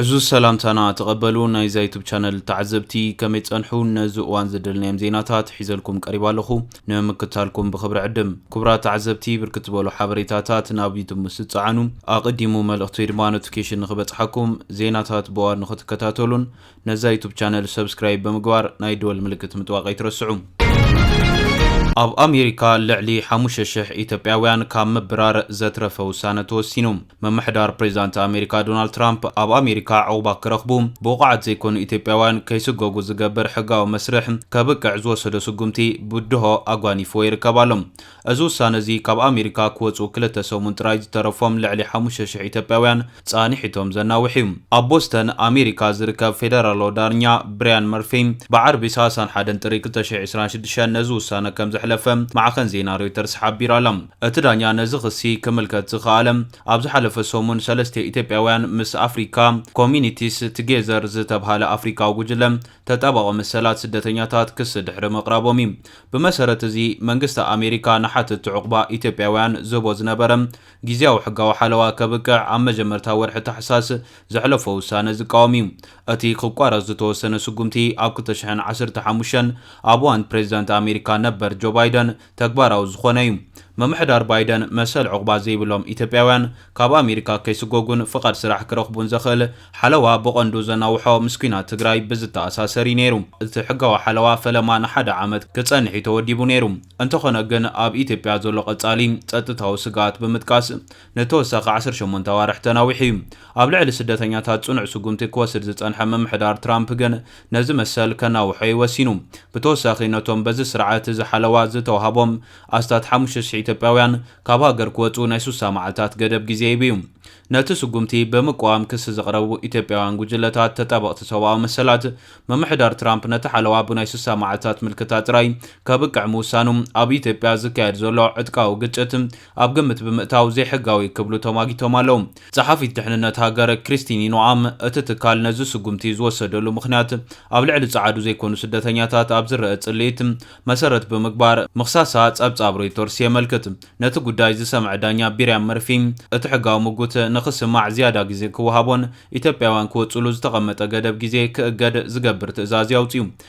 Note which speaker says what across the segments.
Speaker 1: ዕዙዝ ሰላምታና ተቐበሉ ናይዛ ዩቱብ ቻነል ተዓዘብቲ ከመይ ጸንሑ ነዚ እዋን ዝደልናዮም ዜናታት ሒዘልኩም ቀሪባ ኣለኹ ንምክታልኩም ብክብሪ ዕድም ክቡራት ተዓዘብቲ ብርክት ዝበሉ ሓበሬታታት ናብ ዩቱብ ምስ ዝጸዓኑ ኣቐዲሙ መልእኽቲ ወይ ድማ ኖቲፊኬሽን ንኽበጽሓኩም ዜናታት ብዋር ንኽትከታተሉን ነዛ ዩቱብ ቻነል ሰብስክራይብ ብምግባር ናይ ደወል ምልክት ምጥዋቕ ኣይትረስዑ። ኣብ ኣሜሪካ ልዕሊ ሓሙሽተ ሽሕ ኢትዮጵያውያን ካብ ምብራር ዘትረፈ ውሳነ ተወሲኑ። ምምሕዳር ፕሬዚዳንት ኣሜሪካ ዶናልድ ትራምፕ ኣብ ኣሜሪካ ዑቕባ ክረኽቡ ብቑዓት ዘይኮኑ ኢትዮጵያውያን ከይስጎጉ ዝገብር ሕጋዊ መስርሕ ከብቅዕ ዝወሰዶ ስጉምቲ ብድሆ ኣጓኒፍዎ ይርከብ ኣሎ። እዚ ውሳነ እዚ ካብ ኣሜሪካ ክወጽኡ ክልተ ሰሙን ጥራይ ዝተረፎም ልዕሊ ሓሙሽተ ሽሕ ኢትዮጵያውያን ጻኒሒቶም ዘናውሕ እዩ። ኣብ ቦስተን ኣሜሪካ ዝርከብ ፌደራላዊ ዳርኛ ብርያን መርፊ ብዓርቢ ሳሳን ሓደን ጥሪ ክልተ ሽሕ ዕስራን ሽዱሽተን ነዚ ውሳነ ከም ዘሕለፈ ማዕኸን ዜና ሮይተርስ ሓቢራ ኣላ። እቲ ዳኛ ነዚ ክሲ ክምልከት ዝኸኣለ ኣብ ዝሓለፈ ሰሙን ሰለስተ ኢትዮጵያውያን ምስ ኣፍሪካ ኮሚኒቲስ ትጌዘር ዝተብሃለ ኣፍሪካዊ ጉጅለ ተጣባቒ መሰላት ስደተኛታት ክሲ ድሕሪ ምቕራቦም እዩ። ብመሰረት እዚ መንግስቲ ኣሜሪካ ንሓተትቲ ዑቕባ ኢትዮጵያውያን ዝህቦ ዝነበረ ግዝያዊ ሕጋዊ ሓለዋ ከብቅዕ ኣብ መጀመርታ ወርሒ ታሕሳስ ዘሕለፎ ውሳነ ዝቃወም እዩ። እቲ ክቋረጽ ዝተወሰነ ስጉምቲ ኣብ ክልተ ሽሕን ዓሰርተ ሓሙሽተን ኣብ እዋን ፕሬዚዳንት ኣሜሪካ ነበር ጆ ባይደን ተግባራዊ ዝኾነ እዩ። ምምሕዳር ባይደን መሰል ዑቕባ ዘይብሎም ኢትዮጵያውያን ካብ ኣሜሪካ ከይስጎጉን ፍቓድ ስራሕ ክረኽቡን ዘኽእል ሓለዋ ብቐንዱ ዘናውሖ ምስ ኲናት ትግራይ ብዝተኣሳሰር እዩ ነይሩ። እቲ ሕጋዊ ሓለዋ ፈለማ ንሓደ ዓመት ክፀንሕ እዩ ተወዲቡ ነይሩ። እንተኾነ ግን ኣብ ኢትዮጵያ ዘሎ ቀፃሊ ፀጥታዊ ስግኣት ብምጥቃስ ንተወሳኺ ዓሰርተ ሸሞንተ ኣዋርሕ ተናዊሑ እዩ። ኣብ ልዕሊ ስደተኛታት ጽኑዕ ስጉምቲ ክወስድ ዝጸንሐ ምምሕዳር ትራምፕ ግን ነዚ መሰል ከናውሖ እዩ ወሲኑ። ብተወሳኺ ነቶም በዚ ስርዓት እዚ ሓለዋ ዝተዋህቦም ኣስታት ሓሙሽተ ሽሕ ኢትዮጵያውያን ካብ ሃገር ክወጽኡ ናይ ስሳ መዓልታት ገደብ ግዜ ሂቡ እዩ። ነቲ ስጉምቲ ብምቅዋም ክሲ ዘቕረቡ ኢትዮጵያውያን ጉጅለታት ተጣበቕቲ ሰብኣዊ መሰላት፣ ምምሕዳር ትራምፕ ነቲ ሓለዋ ብናይ ስሳ መዓልታት ምልክታ ጥራይ ከብቅዕ ምውሳኑ ኣብ ኢትዮጵያ ዝካየድ ዘሎ ዕጥቃዊ ግጭት ኣብ ግምት ብምእታው ዘይሕጋዊ ክብሉ ተማጊቶም ኣለው። ጸሓፊት ድሕንነት ሃገር ክሪስቲኒ ኖኣም፣ እቲ ትካል ነዚ ስጉምቲ ዝወሰደሉ ምኽንያት ኣብ ልዕሊ ጸዓዱ ዘይኮኑ ስደተኛታት ኣብ ዝረኣ ጽልኢት መሰረት ብምግባር ምኽሳሳ ጸብጻብ ሮይተርስ የመልክት። ነቲ ጉዳይ ዝሰምዐ ዳኛ ቢርያም መርፊ፣ እቲ ሕጋዊ ምጉት ንኽስማዕ ዝያዳ ግዜ ክወሃቦን ኢትዮጵያውያን ክወጽሉ ዝተቐመጠ ገደብ ግዜ ክእገድ ዝገብር ትእዛዝ እዩ ኣውጺኡ።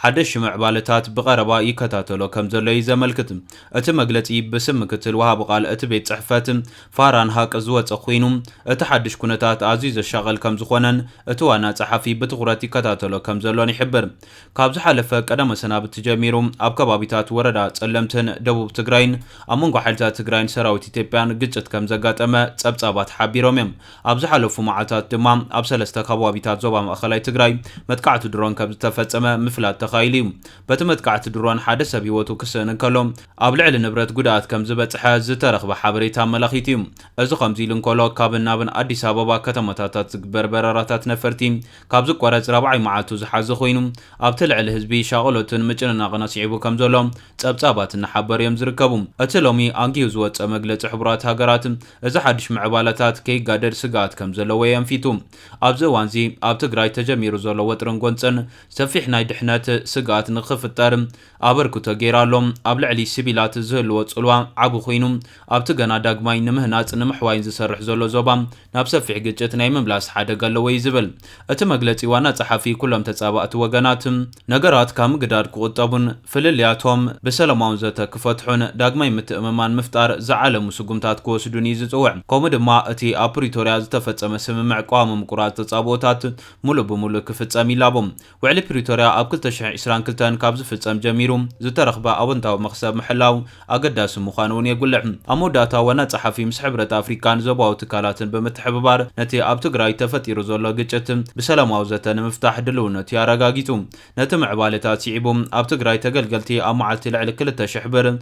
Speaker 1: ሓደሽቲ ምዕባለታት ብቐረባ ይከታተሎ ከምዘሎ'ዩ ዘመልክት። እቲ መግለጺ ብስም ምክትል ወሃቢ ቃል እቲ ቤት ጽሕፈት፣ ፋራን ሃቅ ዝወጸ ኩይኑ፣ እቲ ሓድሽ ኩነታት ኣዝዩ ዘሻቕል ከምዝኾነን እቲ ዋና ጸሓፊ ብትኹረት ይከታተሎ ከምዘሎን ይሕብር። ካብ ዝሓለፈ ቀዳመ-ሰናብቲ ጀሚሩ ኣብ ከባቢታት ወረዳ ጸለምትን ደቡብ ትግራይን ኣብ መንጎ ሓይልታት ትግራይን ሰራዊት ኢትዮጵያን ግጭት ከምዘጋጠመ ጸብጻባት ሓቢሮም'ዮም። ኣብ ዝሓለፉ መዓልታት ድማ ኣብ ሰለስተ ከባቢታት ዞባ ማእኸላይ ትግራይ መጥቃዕቲ ድሮን ከምዝተፈፀመ ምፍላጥ ተኻኢሉ ዩ። በቲ መጥቃዕቲ ድሮን ሓደ ሰብ ህይወቱ ክስእን እንከሎ ኣብ ልዕሊ ንብረት ጉድኣት ከምዝበፅሐ ዝተረኽበ ሓበሬታ ኣመላኺቱ ዩ። እዚ ከምዚ ኢሉ እንከሎ ካብን ናብን ኣዲስ ኣበባ ከተማታታት ዝግበር በረራታት ነፈርቲ ካብ ዝቋረፅ ራብዓይ መዓልቱ ዝሓዘ ኮይኑ ኣብቲ ልዕሊ ህዝቢ ሻቕሎትን ምጭንናቕን ኣስዒቡ ከምዘሎ ጸብጻባት እናሓበሩ እዮም ዝርከቡ። እቲ ሎሚ ኣንጊሁ ዝወጸ መግለጺ ሕቡራት ሃገራት፣ እዚ ሓድሽ ምዕባለታት ከይጋደድ ስግኣት ከም ዘለዎ የንፊቱ። ኣብዚ እዋንዚ ኣብ ትግራይ ተጀሚሩ ዘሎ ወጥርን ጎንጸን ሰፊሕ ናይ ድሕነት ስግኣት ንክፍጠር ኣበርክቶ ገይሩ ኣሎ። ኣብ ልዕሊ ሲቪላት ዝህልዎ ጽልዋ ዓቢ ኩይኑ፣ ኣብቲ ገና ዳግማይ ንምህናጽ ንምሕዋይን ዝሰርሕ ዘሎ ዞባ፣ ናብ ሰፊሕ ግጭት ናይ ምምላስ ሓደጋ ኣለዎ እዩ ዝብል እቲ መግለጺ ዋና ጸሓፊ፣ ኩሎም ተጻባእቲ ወገናት ነገራት ካብ ምግዳድ ክቑጠቡን ፍልልያቶም ብሰለማዊ ዘተ ክፈትሑን ዳግማይ ምትእምማን ምፍጣር ዝዓለሙ ስጉምታት ክወስዱን እዩ ዝጽውዕ ከምኡ ድማ እቲ ኣብ ፕሪቶርያ ዝተፈጸመ ስምምዕ ቀዋሚ ምቁራጽ ተጻብኦታት ሙሉእ ብሙሉእ ክፍጸም ይላቦ። ውዕሊ ፕሪቶርያ ኣብ ክልተ ሽሕን ዕስራን ክልተን ካብ ዝፍፀም ጀሚሩ ዝተረኽበ ኣወንታዊ መኽሰብ ምሕላው ኣገዳሲ ምዃኑ እውን የጉልሕ። ኣብ መወዳእታ ዋና ፀሓፊ ምስ ሕብረት ኣፍሪካን ዞባዊ ትካላትን ብምትሕብባር ነቲ ኣብ ትግራይ ተፈጢሩ ዘሎ ግጭት ብሰላማዊ ዘተ ንምፍታሕ ድልውነት'ዩ ኣረጋጊፁ። ነቲ ምዕባለታት ስዒቡ ኣብ ትግራይ ተገልገልቲ ኣብ መዓልቲ ልዕሊ ክልተ ሽሕ ብር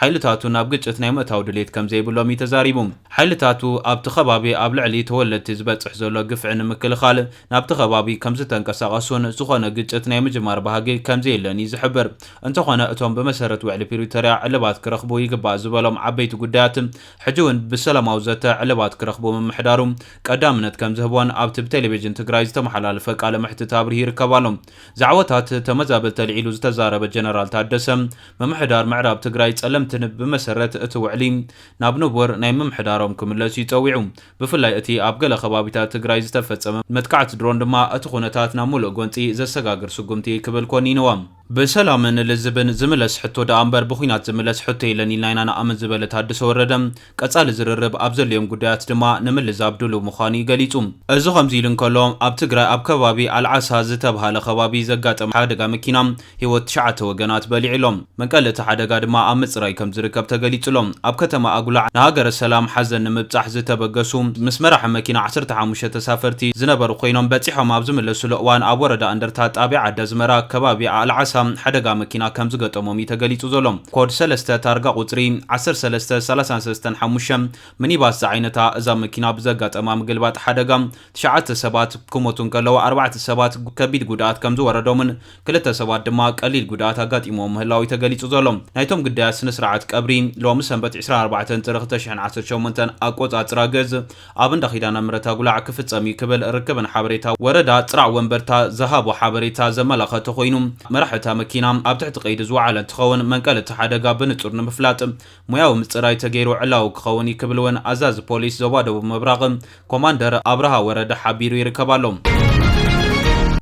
Speaker 1: ሓይልታቱ ናብ ግጭት ናይ ምእታው ድሌት ከምዘይብሎም እዩ ተዛሪቡ። ሓይልታቱ ኣብቲ ከባቢ ኣብ ልዕሊ ተወለድቲ ዝበፅሕ ዘሎ ግፍዒ ንምክልኻል ናብቲ ከባቢ ከምዝተንቀሳቐሱን ዝኾነ ግጭት ናይ ምጅማር ባህጊ ከምዘየለን እዩ ዝሕብር። እንተኾነ እቶም ብመሰረት ውዕሊ ፕሪቶርያ ዕልባት ክረኽቡ ይግባእ ዝበሎም ዓበይቲ ጉዳያት ሕጂ እውን ብሰላማዊ ዘተ ዕልባት ክረኽቡ ምምሕዳሩ ቀዳምነት ከምዝህቦን ኣብቲ ብቴሌቪዥን ትግራይ ዝተመሓላለፈ ቃለ መሕትት ኣብሪሁ ይርከብ ኣሎ። ዛዕባታት ተመዛበልቲ ኣልዒሉ ዝተዛረበ ጀነራል ታደሰ፣ ምምሕዳር ምዕራብ ትግራይ ፀለምቲ ብመሰረት እቲ ውዕሊ ናብ ንቡር ናይ ምምሕዳሮም ክምለሱ እዩ ፀዊዑ። ብፍላይ እቲ ኣብ ገለ ከባቢታት ትግራይ ዝተፈፀመ መጥቃዕቲ ድሮን ድማ እቲ ኩነታት ናብ ሙሉእ ጎንፂ ዘሰጋግር ስጉምቲ እዩ ክብል ኮኒንዎ። ብሰላምን ልዝብን ዝምለስ ሕቶ ደኣ እምበር ብኹናት ዝምለስ ሕቶ የለን ኢልና ኢና ንኣምን ዝበለ ታደሰ ወረደ፣ ቀጻሊ ዝርርብ ኣብ ዘድልዮም ጉዳያት ድማ ንምልዛብ ድሉው ምዃኑ'ዩ ገሊጹ። እዚ ከምዚ ኢሉ እንከሎ፣ ኣብ ትግራይ ኣብ ከባቢ ኣልዓሳ ዝተብሃለ ከባቢ ዘጋጠመ ሓደጋ መኪና፣ ህይወት ትሽዓተ ወገናት በሊዑ'ሎ። መንቀሊ እቲ ሓደጋ ድማ ኣብ ምጽራይ ከም ዝርከብ ተገሊጹ'ሎ። ኣብ ከተማ ኣጉላዕ ንሃገረ ሰላም ሓዘን ንምብጻሕ ዝተበገሱ ምስ መራሒ መኪና ዓሰርተ ሓሙሽተ ተሳፈርቲ ዝነበሩ ኮይኖም፣ በጺሖም ኣብ ዝምለሱሉ እዋን ኣብ ወረዳ እንደርታ ጣብያ ዓዲ ኣዝመራ ከባቢ ኣልዓሳ ሓደጋ መኪና ከም ዝገጠሞም'ዩ ተገሊጹ ዘሎ። ኮድ ሰለስተ ታርጋ ቁጽሪ ዓሰርተ ሰለስተ ሰላሳን ሰለስተን ሓሙሽተ ምኒባስ ዝዓይነታ እዛ መኪና ብዘጋጠማ ምግልባጥ ሓደጋ ትሽዓተ ሰባት ክሞቱ እንከለዉ ኣርባዕተ ሰባት ከቢድ ጉድኣት ከምዝወረዶምን ክልተ ሰባት ድማ ቀሊል ጉድኣት ኣጋጢምዎም ምህላዉ'ዩ ተገሊጹ ዘሎ። ናይቶም ግዳያት ስነ-ስርዓት ቀብሪ ሎሚ ሰንበት ዕስራን ኣርባዕተን ጥሪ ክልተ ሽሕን ዓሰርተ ሸሞንተን ኣቆጻጽራ ግእዝ ኣብ እንዳ ኪዳነ ምሕረት ኣጉላዕ ክፍጸም እዩ ክብል ርክብን ሓበሬታ ወረዳ ጽራዕ ወንበርታ ዝሃቦ ሓበሬታ ዘመላኸተ ኮይኑ፣ መራሒ እታ መኪና ኣብ ትሕቲ ቀይዲ ዝወዓለ እንትኸውን መንቀሊ እቲ ሓደጋ ብንጹር ንምፍላጥ ሞያዊ ምጽራይ ተገይሩ ዕላዊ ክኸውን እዩ ክብል እውን ኣዛዚ ፖሊስ ዞባ ደቡብ ምብራቕ ኮማንደር ኣብርሃ ወረደ ሓቢሩ ይርከብ ኣሎ።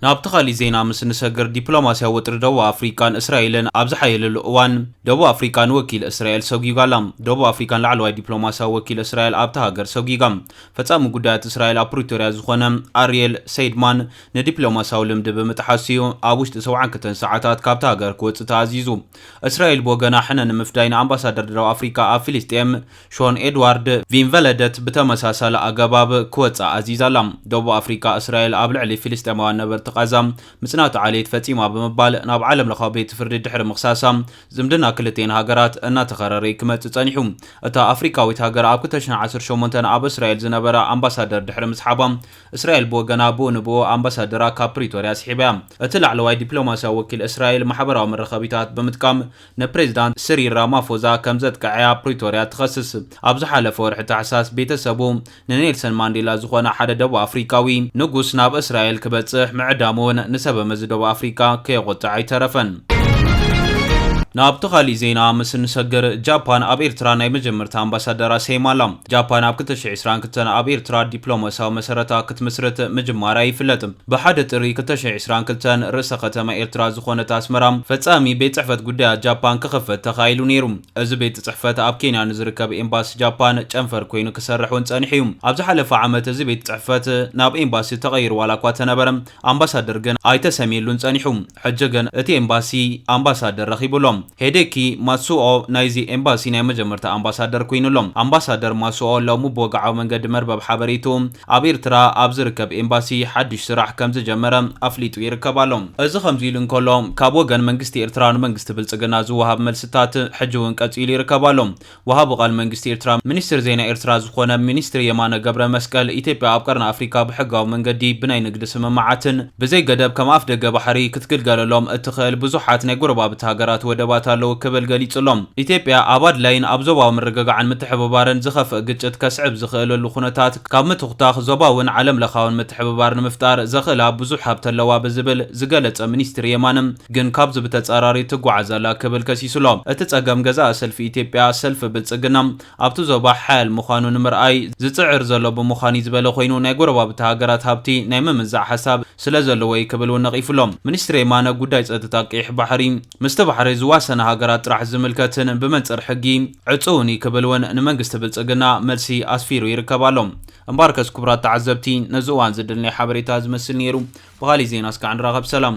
Speaker 1: ናብቲ ካሊእ ዜና ምስ ንሰግር፣ ዲፕሎማስያዊ ወጥሪ ደቡብ ኣፍሪቃን እስራኤልን ኣብ ዝሓየለሉ እዋን፣ ደቡብ ኣፍሪቃ ንወኪል እስራኤል ሰጒጓ ኣላ። ደቡብ ኣፍሪቃ ንላዕለዋይ ዲፕሎማስያዊ ወኪል እስራኤል ኣብታ ሃገር ሰጒጓ። ፈጻሚ ጉዳያት እስራኤል ኣብ ፕሪቶርያ ዝኾነ ኣርየል ሰይድማን ንዲፕሎማስያዊ ልምዲ ብምጥሓሱ'ዩ ኣብ ውሽጢ ሰብዓን ክልተን ሰዓታት ካብታ ሃገር ክወጽእ ተኣዚዙ። እስራኤል ብወገና ሕነ ንምፍዳይ ንኣምባሳደር ደቡብ ኣፍሪቃ ኣብ ፍልስጤም ሾን ኤድዋርድ ቪንቨለደት ብተመሳሳሊ ኣገባብ ክወጽእ ኣዚዛ'ላ። ደቡብ ኣፍሪቃ እስራኤል ኣብ ልዕሊ ፍልስጤማውያን ነበርቲ ቓዛ ምጽናት ዓሌት ፈጺማ ብምባል ናብ ዓለም ለኻዊ ቤት ፍርዲ ድሕሪ ምኽሳሳ፣ ዝምድና ክልቲኤን ሃገራት እናተኸረረ'ዩ ክመጽእ ጸኒሑ። እታ ኣፍሪቃዊት ሃገር ኣብ ክልተ ሽሕን ዓሰርተ ሸሞንተን ኣብ እስራኤል ዝነበራ ኣምባሳደር ድሕሪ ምስሓባ፣ እስራኤል ብወገና ብኡ ንብኡ ኣምባሳደራ ካብ ፕሪቶርያ ስሒባ'ያ። እቲ ላዕለዋይ ዲፕሎማስያዊ ወኪል እስራኤል ማሕበራዊ መራኸቢታት ብምጥቃም፣ ንፕሬዝዳንት ስሪል ራማፎዛ ከምዘጥቅዐ ኣብ ፕሪቶርያ ትኸስስ። ኣብ ዝሓለፈ ወርሒ ታሕሳስ ቤተሰቡ ንኔልሰን ማንዴላ ዝኾነ ሓደ ደቡብ ኣፍሪካዊ ንጉስ ናብ እስራኤል ክበፅሕ ምዕዳሙ እውን ንሰበመዚ ደቡብ ኣፍሪካ ከየቖጥዐ ኣይተረፈን። ናብቲ ካሊእ ዜና ምስ እንሰግር፣ ጃፓን ኣብ ኤርትራ ናይ መጀመርታ ኣምባሳደራ ሰይማ ኣላ። ጃፓን ኣብ ክልተ ሽሕ ዕስራን ክልተን ኣብ ኤርትራ ዲፕሎማሲያዊ መሰረታ ክትምስርት ምጅማራ ይፍለጥ። ብሓደ ጥሪ ክልተ ሽሕ ዕስራን ክልተን ርእሰ ከተማ ኤርትራ ዝኾነት ኣስመራ ፈጻሚ ቤት ጽሕፈት ጉዳያት ጃፓን ክኽፈት ተኻኢሉ ነይሩ። እዚ ቤት ጽሕፈት ኣብ ኬንያ ንዝርከብ ኤምባሲ ጃፓን ጨንፈር ኮይኑ ክሰርሕ እውን ጸኒሑ እዩ። ኣብ ዝሓለፈ ዓመት እዚ ቤት ጽሕፈት ናብ ኤምባሲ ተቐይሩ ዋላኳ ተነበረ ኣምባሳደር ግን ኣይተሰምየሉን ጸኒሑ። ሕጂ ግን እቲ ኤምባሲ ኣምባሳደር ረኺቡ ኣሎ። ሄዴኪ ማትሱኦ ናይዚ ኤምባሲ ናይ መጀመርታ ኣምባሳደር ኮይኑ ኣሎ። ኣምባሳደር ማሱኦ ሎሚ ብወግዓዊ መንገዲ መርበብ ሓበሬትኡ ኣብ ኤርትራ ኣብ ዝርከብ ኤምባሲ ሓድሽ ስራሕ ከምዝጀመረ ኣፍሊጡ ይርከብ ኣሎ። እዚ ከምዚ ኢሉ እንከሎ፣ ካብ ወገን መንግስቲ ኤርትራ ንመንግስቲ ብልጽግና ዝወሃብ መልስታት ሕጂ'ውን ቀጺሉ ይርከብ ኣሎ። ወሃቢ ቃል መንግስቲ ኤርትራ ሚኒስትር ዜና ኤርትራ ዝኾነ ሚኒስትር የማነ ገብረመስቀል፣ ኢትዮጵያ ኣብ ቀርኒ ኣፍሪካ ብሕጋዊ መንገዲ ብናይ ንግዲ ስምምዓትን፣ ብዘይ ገደብ ከም ኣፍ ደገ ባሕሪ ክትግልገለሎም እትኽእል ብዙሓት ናይ ጎረባብቲ ሃገራት ወደባት ኣለዉ ክብል ገሊጹ'ሎ። ኢትዮጵያ ኣብ ኣድላይን ኣብ ዞባዊ ምርግጋዕን ምትሕብባርን ዝኸፍእ ግጭት ከስዕብ ዝኽእለሉ ኩነታት ካብ ምትኹታኽ ዞባውን ዓለምለኻውን ምትሕብባር ንምፍጣር ዘኽእላ ብዙሕ ሃብቲ ኣለዋ ብዝብል ዝገለጸ ሚኒስትሪ የማነ ግን ካብዚ ብተጻራሪ ትጉዓዝ ኣላ ክብል ከሲሱ'ሎ። እቲ ጸገም ገዛኢ ሰልፊ ኢትዮጵያ ሰልፊ ብልጽግና ኣብቲ ዞባ ሓያል ምዃኑ ንምርኣይ ዝጽዕር ዘሎ ብምዃን'ዩ ዝበለ ኮይኑ፣ ናይ ጎረባብቲ ሃገራት ሃብቲ ናይ ምምዛዕ ሓሳብ ስለዘለዎ'ዩ ክብል እውን ነቒፉ'ሎ። ሚኒስትር የማነ፣ ጉዳይ ጸጥታ ቀይሕ ባሕሪ ምስቲ ባሕሪ ዝዋሰና ሃገራት ጥራሕ ዝምልከትን ብመንጽር ሕጊ ዕጹውን'ዩ ክብል እውን ንመንግስቲ ብልጽግና መልሲ ኣስፊሩ ይርከብ ኣሎ። እምበኣርከስ ክቡራት ተዓዘብቲ ነዚ እዋን ዝድል ናይ ሓበሬታ እዚ መስል ነይሩ። ብኻሊእ ዜና እስካዕ ንራኸብ ሰላም።